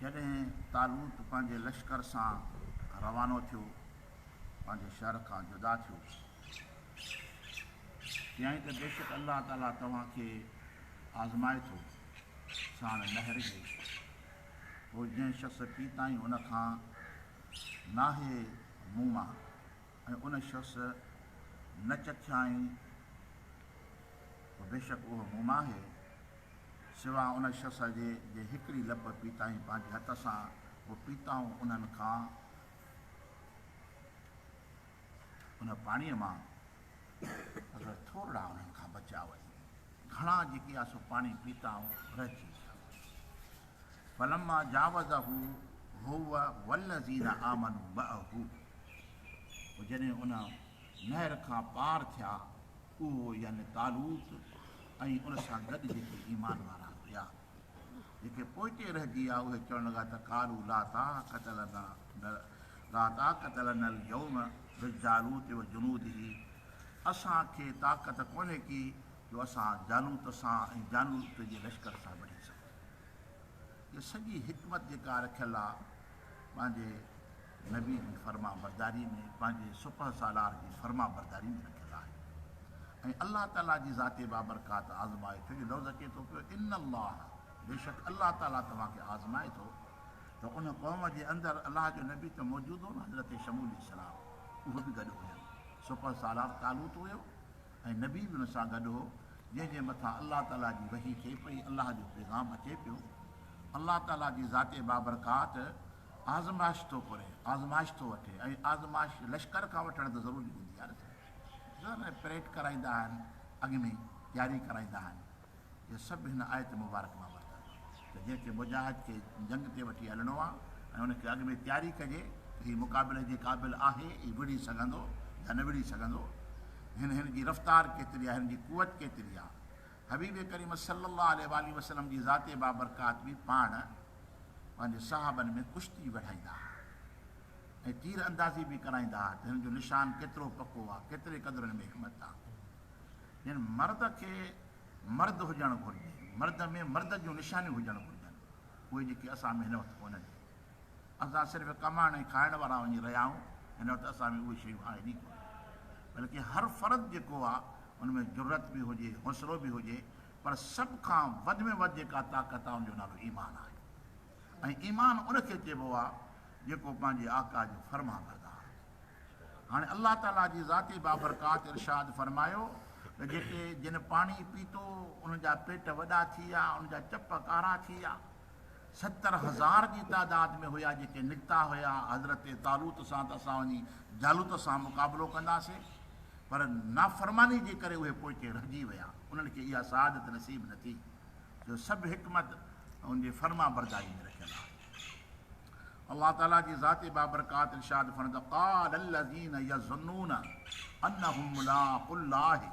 جڏهن طالوت پنهنجي لشڪر سان روانو ٿيو، پنهنجي شهر کان جدا ٿيو، چيائين ته بيشڪ الله تعاليٰ توهان کي آزمائي ٿو، ساڻ نهر جي، پوء جنهن شخص پي تائين ان کان ناهي مون مان. ۽ ان شخص نه چکيائين ته بيشڪ اهو مون مان آهي، سواء ان شخص جي جنهن هڪڙي لپ پيتائين پنهنجي هٿ سان، پوء پيتائون انهن کان ان پاڻيء مان، مگر ٿورڙا انهن کان بچيا وڃن. گهڻا جيڪي آسو پاڻي پيتائون رهجي ويا فلما جاوزه هو والذين آمنوا معه پوء جڏهن ان نهر کان پار ٿيا اهو يعني طالوت ۽ ان سان گڏ جيڪي ايمان وارا هيا. جيڪي پوئتي رهجي ويا اهي چوڻ لڳا ته قالوا لا طاقت لنا لا طاقت لنا اليوم بجالوت وجنوده اسان کي طاقت ڪونهي ڪي جو اسان جالوت سان ۽ جالوت جي لشڪر سان وڙهي سگهون. هيء سڄي حڪمت جيڪا رکيل آهي. پنهنجي نبي جي فرمانبرداري ۾ پنهنجي سپهه سالار جي فرمانبرداري ۾ رکيل آهي ۽ الله تعاليٰ جي ذات بابرڪات آزمائي ٿو جو لفظ اچي ٿو پيو ان الله بيشڪ الله تعاليٰ توهان کي آزمائي ٿو ته ان قوم جي اندر الله جو نبي ته موجود هو نه حضرت شمول عليه السلام اهو به گڏ هيو سپهه سالار طالوت هيو ۽ نبي به ان سان گڏ هو جنهن جي مٿان الله تعاليٰ جي وحي ٿئي پئي الله جو پيغام اچي پيو الله تعاليٰ جي ذات بابرڪات آزمائش ٿو ڪري، آزمائش ٿو وٺي ۽ آزمائش لشڪر کان وٺڻ ته ضروري هوندي آهي نه سائين. ڏسو نه پريڊ ڪرائيندا آهن، اڳ ۾ ئي تياري ڪرائيندا آهن. اهي سڀ هن آيت مبارڪ مان ورتا آهن ته جنهن کي مجاهد کي جنگ تي وٺي هلڻو آهي ۽ ان کي اڳ ۾ تياري ڪجي ته هي مقابلي جي قابل آهي، هي وڙهي سگهندو يا نه وڙهي سگهندو، هن هن جي رفتار ڪيتري آهي، هن جي قوت ڪيتري آهي، حبيب ڪريم صلّي اللّٰه عليه واٰله وسلّم جي ذات بابرڪات به پاڻ پنهنجي صحابن ۾ ڪشتي وڙهائيندا ها ۽ تير اندازي به ڪرائيندا ها ته هن جو نشان ڪيترو پڪو آ ڪيتري قدر هن ۾ حڪمت آ جن مرد کي مرد هجڻ گهرجي مرد ۾ مرد جون نشانيون هجڻ گهرجن اهي جيڪي اسان ۾ هن وقت ڪونهن اسان صرف ڪمائڻ ۽ کائڻ وارا وڃي رهيا آهيون، هن وقت اسان ۾ اهي شيون آهن ئي ڪونه. بلڪه هر فرد جيڪو آهي ان ۾ جرئت به هجي، حوصلو به هجي پر سڀ کان وڌ ۾ وڌ جيڪا طاقت آهي ان جو نالو ايمان آهي ۽ ايمان ان کي چئبو آهي جيڪو پنهنجي آقا جو فرمانبردار آهي. هاڻي الله تعاليٰ جي ذاتي بابرڪات ارشاد فرمايو ته جيڪي جن پاڻي پيتو انهن جا پيٽ وڏا ٿي ويا، انهن جا چپ ڪارا ٿي ويا. ستر هزار جي تعداد ۾ هيا جيڪي نڪتا هيا حضرت طالوت سان ته اسان وڃي جالوت سان مقابلو ڪنداسين پر نافرماني جي ڪري اهي پوئتي رهجي ويا انهن کي اها سعادت نصيب نه ٿي جو سڀ حڪمت ان جي فرمانبرداري ۾ رکيل آهي الله تعالي جي ذات بابرڪات ارشاد فرمائي قال الذين يظنون انهم ملاق الله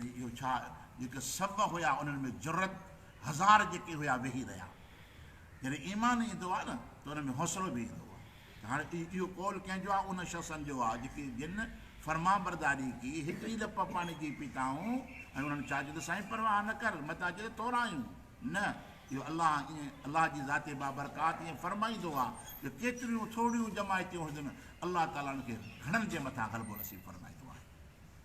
۽ اهو ڇا جيڪي سڀ هيا انهن ۾ جرئت هزار جيڪي هيا ويهي رهيا جڏهن ايمان ايندو آهي نه ته انهن ۾ حوصلو به ايندو آهي ته هاڻي اهو قول ڪنهن جو آهي انهن شخصن جو آهي جيڪي جن فرمانبرداري ڪئي هڪڙي لپ پاڻي جي پيتائون ۽ انهن چاهي چيو ته سائين پرواهه نه ڪر مت اچ ته ٿورايون نه اهو الله ائين الله جي ذات بابرڪات ائين فرمائيندو آهي جو ڪيتريون ٿورڙيون جماعتون هجن الله تعالي ان کي گهڻن جي مٿان غلبو نصيب فرمائيندو آهي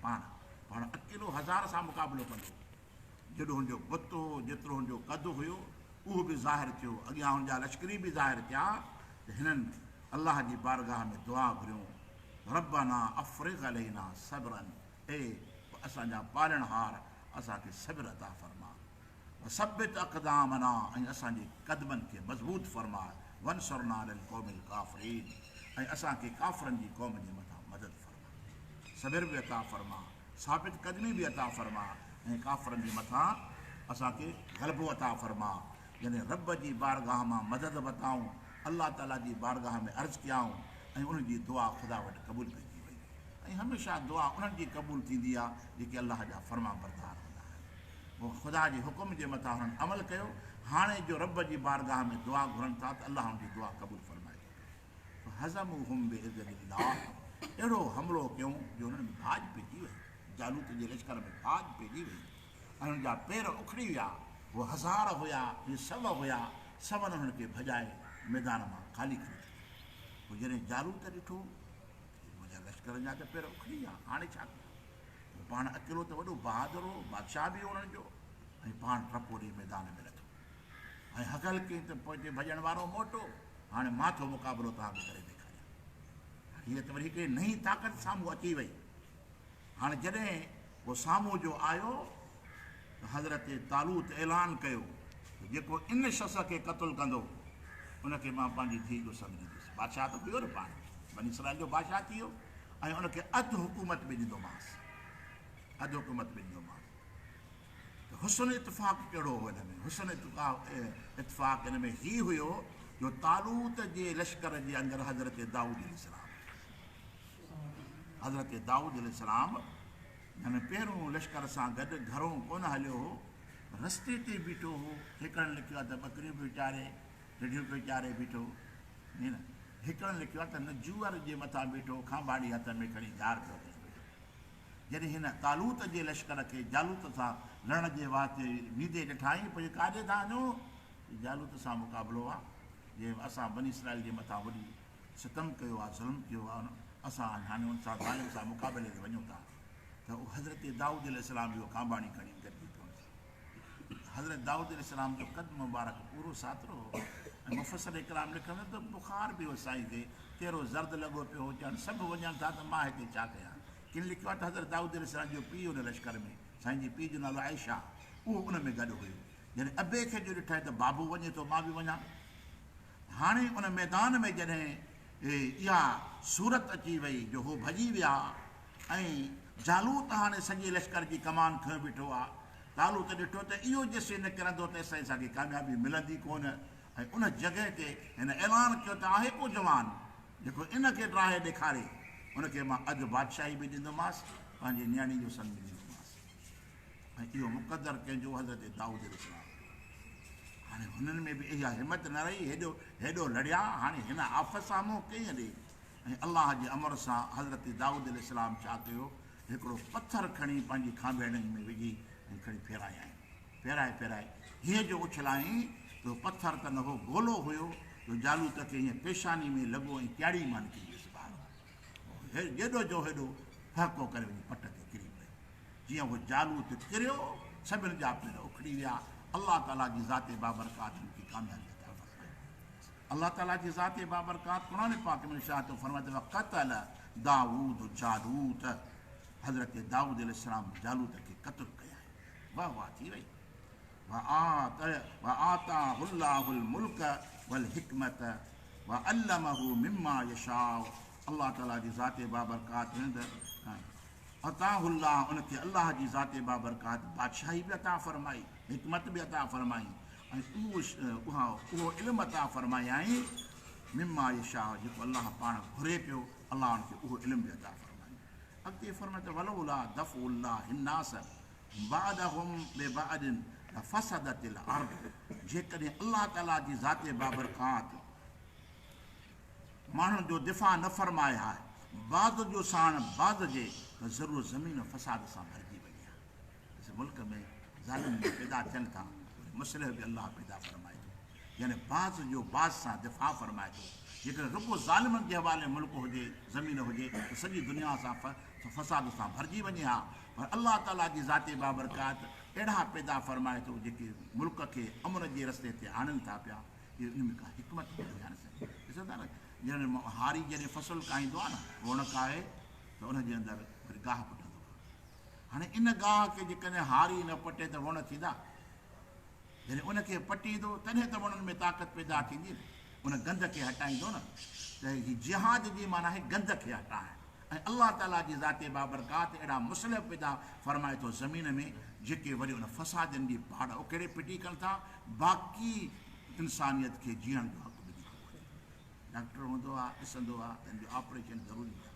پاڻ پاڻ اڪيلو هزار سان مقابلو ڪندو هو. جيڏو هن جو بت هو، جيترو هن جو قد هيو، اهو به ظاهر ٿيو، اڳيان هن جا لشڪري به ظاهر ٿيا ته هنن الله جي بارگاهه ۾ دعا گهريون، ربّنا افرغ علينا صبرًا، اي اسان جا پالڻهار اسان کي صبر عطا فرماء، وثبّت اقدامنا ۽ اسان جي قدمن کي مضبوط فرماء، وانصرنا علي القوم الڪافرين ۽ اسان کي ڪافرن جي قوم جي مٿان مدد فرماء. صبر به عطا فرما، ثابت قدمي به عطا فرما ۽ ڪافرن جي مٿان اسان کي غلبو عطا فرما. جڏهن رب جي بارگاهه مان مدد وتائون، الله تعالي جي بارگاهه ۾ عرض ڪيائون ۽ انهن جي دعا خدا وٽ قبول ڪجي وئي ۽ هميشه دعا انهن جي قبول ٿيندي آهي جيڪي الله جا فرمانبردار هوندا آهن. پوء خدا جي حڪم جي مٿان هنن عمل ڪيو. هاڻي جو رب جي بارگاهه ۾ دعا گهرن ٿا ته الله انهن جي دعا قبول فرمائي ٿو. فهزموهم بعزت الله اهڙو حملو ڪيون جو انهن ۾ ڀاڄ پئجي وئي، جالوت جي لشڪر ۾ ڀاڄ پئجي وئي ۽ انهن جا پير اکڙي ويا، هو هزار هيا يا سو هيا، سون انهن کي ڀڄائي ميدان مان خالي ڪري ڇڏيو. پوء جڏهن جالوت ڏٺو ته منهنجا لشڪرن جا ته پير اکڙي ويا، هاڻي ڇا ڪيان؟ هو پاڻ اڪيلو ته وڏو بهادر هو، بادشاهه به هو انهن جو ۽ پاڻ ٽپو ڏئي ميدان ۾ لٿو. ۽ هڪل ڪئين ته پوئتي ڀڄڻ وارو موٽو هاڻي مان ٿو مقابلو توهان کي ڪري ڏيکاريان. هاڻي هيء ته وري هڪڙي نئين طاقت سامهون اچي وئي. هاڻي جڏهن هو سامهون جو آيو ته حضرت طالوت اعلان ڪيو ته جيڪو ان شخص کي قتل ڪندو ان کي مان پنهنجي ڌيء جو سڱ ڏيندس. بادشاهه ته هيو نه پاڻ بني اسرائيل جو بادشاهه ٿي ويو ۽ ان کي اڌ حڪومت به ڏيندومانس. اڌ حڪومت به ڏيندومانس. حسن اتفاق ڪهڙو هو ان ۾؟ حسن اتفاق ان ۾ هي هيو جو طالوت جي لشڪر جي اندر حضرت دائود عليه السلام هو. حضرت دائود عليه السلام جنهن پهرون لشڪر سان گڏ گهرون ڪونه هليو هو، رستي تي بيٺو هو، هيڪڙن لکيو آهي ته ٻڪريون پيو چاري، رڍيون پيو چاري بيٺو هو. هيڪڙن لکيو آهي ته نجوئر جي مٿان بيٺو هو، کانٻاڙي هٿ ۾ کڻي جار پيو ڪري بيٺو هو. جڏهن هن طالوت جي لشڪر کي جالوت سان لڙڻ جي واهه تي ويندي ڏٺائين پوء ڪاڏي ٿا وڃو؟ هي جالوت سان مقابلو آهي، جنهن اسان بني اسرائيل جي مٿان وڏي ستم ڪيو آهي، ظلم ڪيو آهي، اسان هاڻي ان سان ظالم سان مقابلي تي وڃون ٿا ته حضرت دائود عليه السلام به اهو ڪانڀاڻي کڻي گڏجي پيو. حضرت دائود عليه السلام جو قد مبارڪ پورو ساترو هو ۽ مفصل اڪرام لکن ٿو ته بخار به هو سائين تي چهرو زرد لڳو پيو هو چيان سڀ وڃن ٿا ته مان هتي ڇا ڪيان ڪن لکيو آهي ته حضرت دائود عليه السلام جو پيء ان لشڪر ۾ سائين جي پيء جو نالو عائشه اهو ان ۾ گڏ هيو جڏهن ابي کي جو ڏٺائين ته بابو وڃي ٿو مان به وڃان هاڻي ان ميدان ۾ جڏهن اها صورت اچي وئي جو هو ڀڄي ويا ۽ جالوت هاڻي سڄي لشڪر جي ڪمان کنيو بيٺو آ، طالوت ڏٺو ته اهو جيسين نه ڪرندو تيسين اسان کي ڪاميابي ملندي ڪونه ۽ ان جڳهه تي هن اعلان ڪيو ته آهي ڪو جوان جيڪو ان کي ڊاهي ڏيکاري ان کي مان اڌ بادشاهي به ڏيندومانس پنهنجي نياڻي جو سڱ ڏيندومانس. ۽ اهو مقدر ڪنهن جو حضرت دائود عليه السلام جو هو. هاڻي هنن ۾ به اها همت نه رهي هيڏو هيڏو لڙيا هاڻي هن آفت سان منهن ڪيئن ڏئي ۽ الله جي امر سان حضرت دائود عليه السلام ڇا ڪيو هڪڙو پٿر کڻي پنهنجي کانڀيڙن ۾ وجهي ۽ کڻي ڦيرايائين ڦيرائي ڦيرائي هيء جو اڇلايائين ته اهو پٿر ته نه هو گولو هيو جو جالوت کي هيئن پيشاني ۾ لڳو ۽ ڪياڙي مان نڪري ويس ٻاهر. هو هيڏو جو هيڏو ڦهڪو ڪري وڃي پٽ تي ڪري پيو. جيئن هو جالوت ڪريو، سڀيل جا پير اکڙي ويا. الله تعاليٰ جي ذات بابرڪات هن کي ڪاميابي عطا فرمائي. الله تعاليٰ جي ذات بابرڪات قرآن پاڪ ۾ ارشاد ٿو فرمائي ته وقتل داوود جالوت حضرت داوود عليه السلام جالوت کي قتل ڪيائين. واه واه ٿي وئي. وآتاه الله الملڪ والحڪمت وعلمه مما يشاء الله تعالي جي ذات بابرڪات رند عطاه الله ان کي الله جي ذات بابرڪات بادشاهي به عطا فرمائي حڪمت به عطا فرمائي اهو علم عطا فرمايائين مما يشاء جيڪو الله پاڻ گهري پيو الله ان کي اهو علم به عطا فرمائي اڳتي فرمائي ته ولولا دفع الله الناس بعدهم ببعد لفسدت الارض جيڪڏهن الله تعالي جي ذات بابرڪات ماڻهن جو دفاع نه فرمائي ها بعد جو ساڻ بعد جي ته ضرور زمين فساد سان ڀرجي وڃي ها پس ملڪ ۾ ظالم به پيدا ٿين ٿا وري مصلح به الله پيدا فرمائي ٿو يعني بعد جو بعد سان دفاع فرمائي ٿو جيڪڏهن رڳو ظالمن جي حوالي ملڪ هجي زمين هجي ته سڄي دنيا سان فساد سان ڀرجي وڃي ها پر الله تعاليٰ جي ذات بابرڪات اهڙا پيدا فرمائي ٿو جيڪي ملڪ کي امن جي رستي تي آڻين ٿا پيا اهي ان ۾ ڪا حڪمت هوندي آهي نه سائين ڏسو ٿا نه جن هاري جڏهن فصل ڪاهيندو آهي نه روڻڪ آهي ته ان جي اندر وري گاهه پٽندو آهي هاڻي ان گاهه کي جيڪڏهن هاري نه پٽي ته وڻ ٿيندا جڏهن ان کي پٽيندو تڏهن ته وڻن ۾ طاقت پيدا ٿيندي ان گند کي هٽائيندو نه ته هي جهاد جي معنی آهي گند کي هٽائڻ ۽ الله تعاليٰ جي ذات بابرڪات اهڙا مصلح پيدا فرمائي ٿو زمين ۾، جيڪي وري ان فسادين جي پاڙ اکيڙي ڦٽي ڪن ٿا، باقي انسانيت کي جيئڻ جو حق ملي چڪو آهي. ڊاڪٽر هوندو آ، ڏسندو آ ته هن جو آپريشن ضروري آ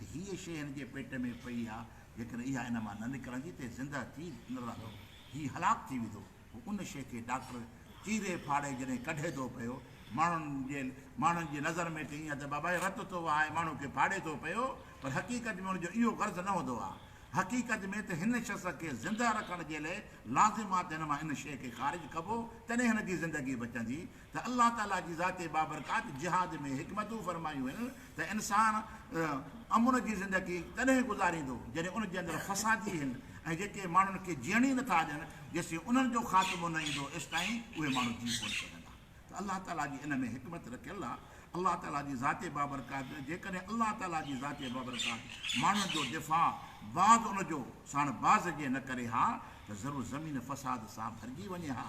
۽ هيء شيء هن جي پيٽ ۾ پئي آ، جيڪڏهن اها ان مان نه نڪرندي ته هي زندهه ٿي نه رهندو، هي هلاڪ ٿي ويندو. هو ان شيء کي ڊاڪٽر چيري ڦاڙي جڏهن ڪڍي ٿو پيو، ماڻهن جي ماڻهن جي نظر ۾ ته ائين آهي ته بابا هي رت ٿو وهائي ماڻهو کي ڦاڙي ٿو پيو، پر حقيقت ۾ ان جو اهو غرض نه هوندو آهي. حقيقت ۾ ته هن شخص کي زنده رکڻ جي لئه لازم آهي ته هن مان ان شيء کي خارج ڪبو، تڏهن هن جي زندگي بچندي. ته الله تعالي جي ذات بابرڪات جهاد ۾ حڪمتون فرمايون هن ته انسان امن جي زندگي تڏهن گذاريندو جڏهن ان جي اندر فسادي هن ۽ جيڪي ماڻهن کي جيئڻ ئي نٿا ڏين جيسين انهن جو خاتمو نه ايندو ايستائين اهي ماڻهو جي ڪونه سگهندا ته الله تعالي جي ان ۾ حڪمت رکيل آهي الله تعالي جي ذات بابرڪات جيڪڏهن الله تعالي جي ذات بابرڪات ماڻهن جو دفاع بعد ان جو ساڻ باز جي نه ڪري ها ته ضرور زمين فساد سان ڀرجي وڃي ها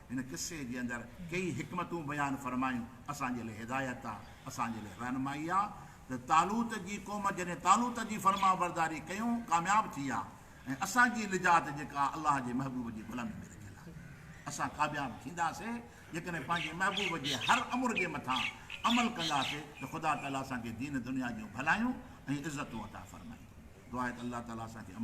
هن قصي جي اندر ڪيئي حڪمتون بيان فرمايون اسان جي لاء هدايت آ، اسان جي لاء رهنمائي آ ته طالوت جي قوم جڏهن طالوت جي فرمانبرداري ڪيون ڪامياب ٿي آ ۽ اسان جي نجات جيڪا آ الله جي محبوب جي غلامي ۾ رکيل آ. اسان ڪابياب ٿينداسي جيڪڏهن پنهنجي محبوب جي هر امر جي مٿان عمل ڪنداسي ته خدا تعالي اسان کي دين دنيا جون ڀلايون ۽ عزتون عطا فرمائيندو. دعا آهي ته الله تعالي اسان کي عمل.